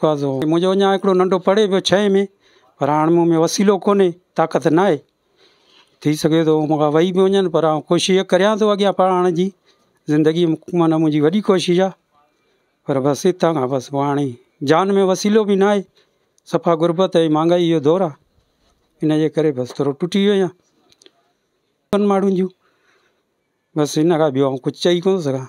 قاضو، منهنجو اڃا هڪڙو ننڍو پڙهي پيو ڇهين ۾، پر هاڻ مون ۾ وسيلو ڪونهي، طاقت ناهي. ٿي سگهي ٿو مون کان وهي به وڃن، پر آئون ڪوشش اها ڪريان ٿو اڳيان پڙهائڻ جي. زندگيء ۾ معنيٰ منهنجي وڏي ڪوشش آهي. پر بس هتان کان بس پوء هاڻي جان ۾ وسيلو به ناهي. صفا غربت ۽ مهانگائيء جو دور آهي. ان جي ڪري بس ٿورو ٽٽي ويو آهيان. ٻن ماڻهن جون بس ان کان ٻيو آئون ڪجهه چئي ڪونه سگهان.